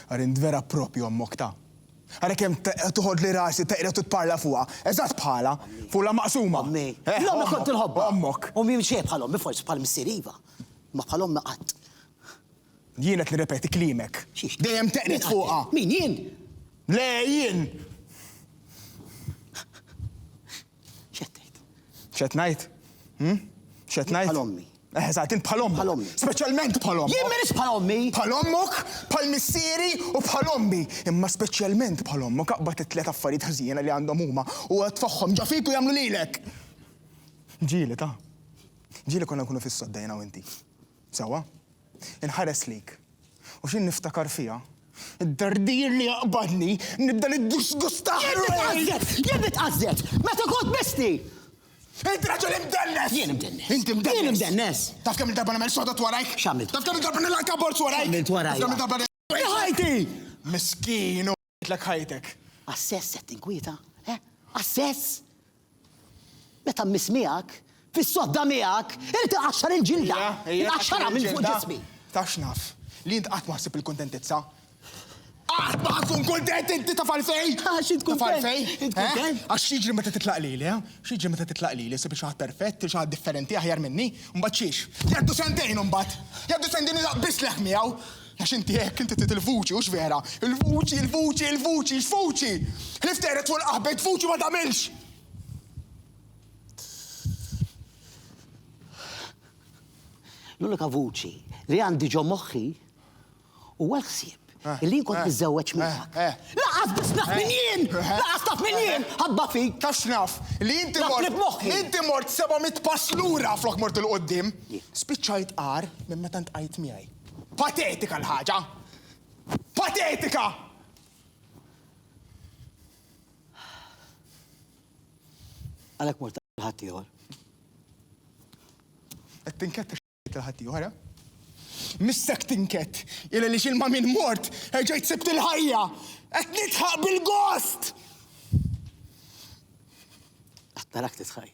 Ara int vera proprju ommok ta'. Ara kemm toħodli rasi teqred u tparla fuqha, eżatt bħalha, fuqla maqsuma. Ommi. Eh, L-ommi kont inħobbha. Ommok. Ommi mhix xejn bħal ommi, forsi bħal missier iva, imma bħal ommi qatt. Jien qed nirrepeti kliemek. Xiex? Dejjem teqred fuqha. Min jien? Le, jien! X'qed tgħid? X'qed ngħid? Hm? X'qed ngħid? Bħal ommi. Eżatt, int bħal ommok. Bħal ommi. Speċjalment bħal ommok. Jien m'iniex bħal ommi. Bħal ommok, bħal missieri u bħal ommi. Imma speċjalment bħal ommok aqbad it-tliet affarijiet ħżiena li għandhom huma u tfagħhom ġo fik u jagħmlu lilek. Ġieli, ta? Ġieli konna nkunu fis-sodda jiena u inti. Sewwa. Inħares lejk. U xi niftakar fiha, id-dardir li jaqbadni, nibda niddisgusta ħrejn! Jien nitqażżet! Meta kont misti! Int raġel imdennes! Jien imdennes! Int imdennes! Jien imdennes! Taf kemm-il darba nagħmel sodot warajk? X'għamilt? Taf kemm-il darba nilgħak abbord warajk? X'għamilt warajk? Taf kemm-il darba nilgħak abbord warajk? Ħajti! Miskin u. Għidlek ħajtek. Għas-sess qed tinkwieta? He? Għas-sess? Meta mmiss miegħek, fis-sodda miegħek, irid inqaxxar il-ġilda! Ejja, ejja. Inqaxxarha minn fuq ġismi! Taf x'naf? Li int qatt ma ħsib il-kuntentizza. Qatt ma ħatkun kuntent inti taf għalfejn! Għax int kuntent! Taf għalfejn? Int kuntent? Eh? Għax x'jiġri meta titlaq lili, eh? X'jiġri meta titlaq lili, sib xi ħadd perfett, xi ħadd differenti aħjar minni, mbagħad xiex? Jgħaddu sentejn imbagħad! Jgħaddu sentejn nilaq biss leħ miegħu! Għax inti hekk, inti trid il-vuċi, hux vera? Il-vuċi, il-vuċi, il-vuċi, x'vuċi? Ħlief teqred fuq il-qaħbet, vuċi ma tagħmilx! L-unika vuċi li għandi ġo moħħi huwa l-ħsieb Eh, Illi kont eh, niżżewweġ eh, miegħek. Laqas biss naf minn jien! Laqas naf minn jien! Ħabba fik! Taf naf li inti mort. Inti mort 700 pass lura flok mort il-qoddim. Spiċċajt qar minn meta ntqajt miegħi. Patetika l-ħaġa! Patetika! Għalhekk mort għal ħaddieħor. Qed tinkett għax għal ħaddieħor, eh? Missek tinkett, il li xilma minn mort, ġejt sibt il-ħajja, qed nitħaq bil-gost! Qed narak titħaj.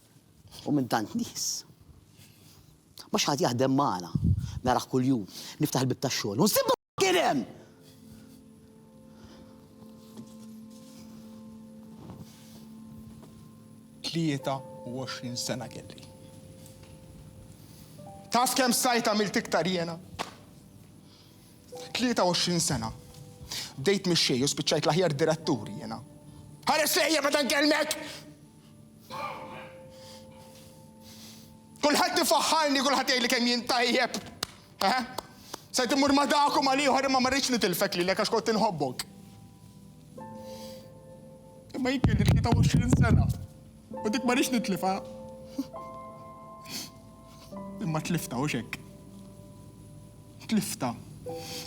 U minn tant nies. Ma xi ħadd jaħdem magħna. Narah kuljum. Niftaħ il-bieb tax-xogħol u nsibbu kien hemm! Tlieta u għoxrin sena kelli. Taf kemm stajt għamilt iktar jiena? Tlieta u għoxrin sena. Bdejt mix-xejn u spiċċajt l-aħjar direttur jiena. Ħares lejja meta nkellmek! Kulħadd ifaħħarni, kulħadd jgħidli kemm jien tajjeb. Eħe. Stajt immur ma' dak u mal-ieħor imma ma rridx nitilfek lilek għax kont inħobbok. Imma jien kelli 23 sena u dik ma rridx nitlifha. Imma tliftha hux hekk? Tliftha.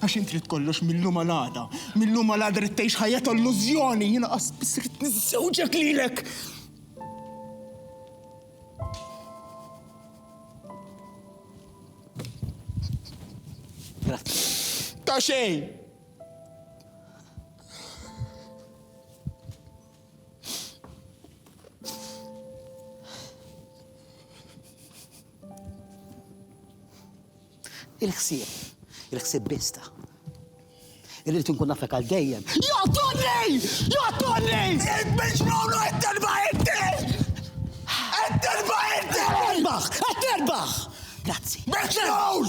Għax int trid kollox mil-lum għal għada. Mil-lum għal għada rid tgħix ħajja ta' illużjoni, jiena qas biss rid niżżewġek lilek. Ta' xejn! Il-ħsieb, il-ħsieb bista. Irrid inkun nafek għal dejjem. Joqtolni! Joqtolni! Il-miġnunu qed terba' inti! Qed terba' inti! Terbaħ! Qed terbaħ! Grazzi. Miġnun!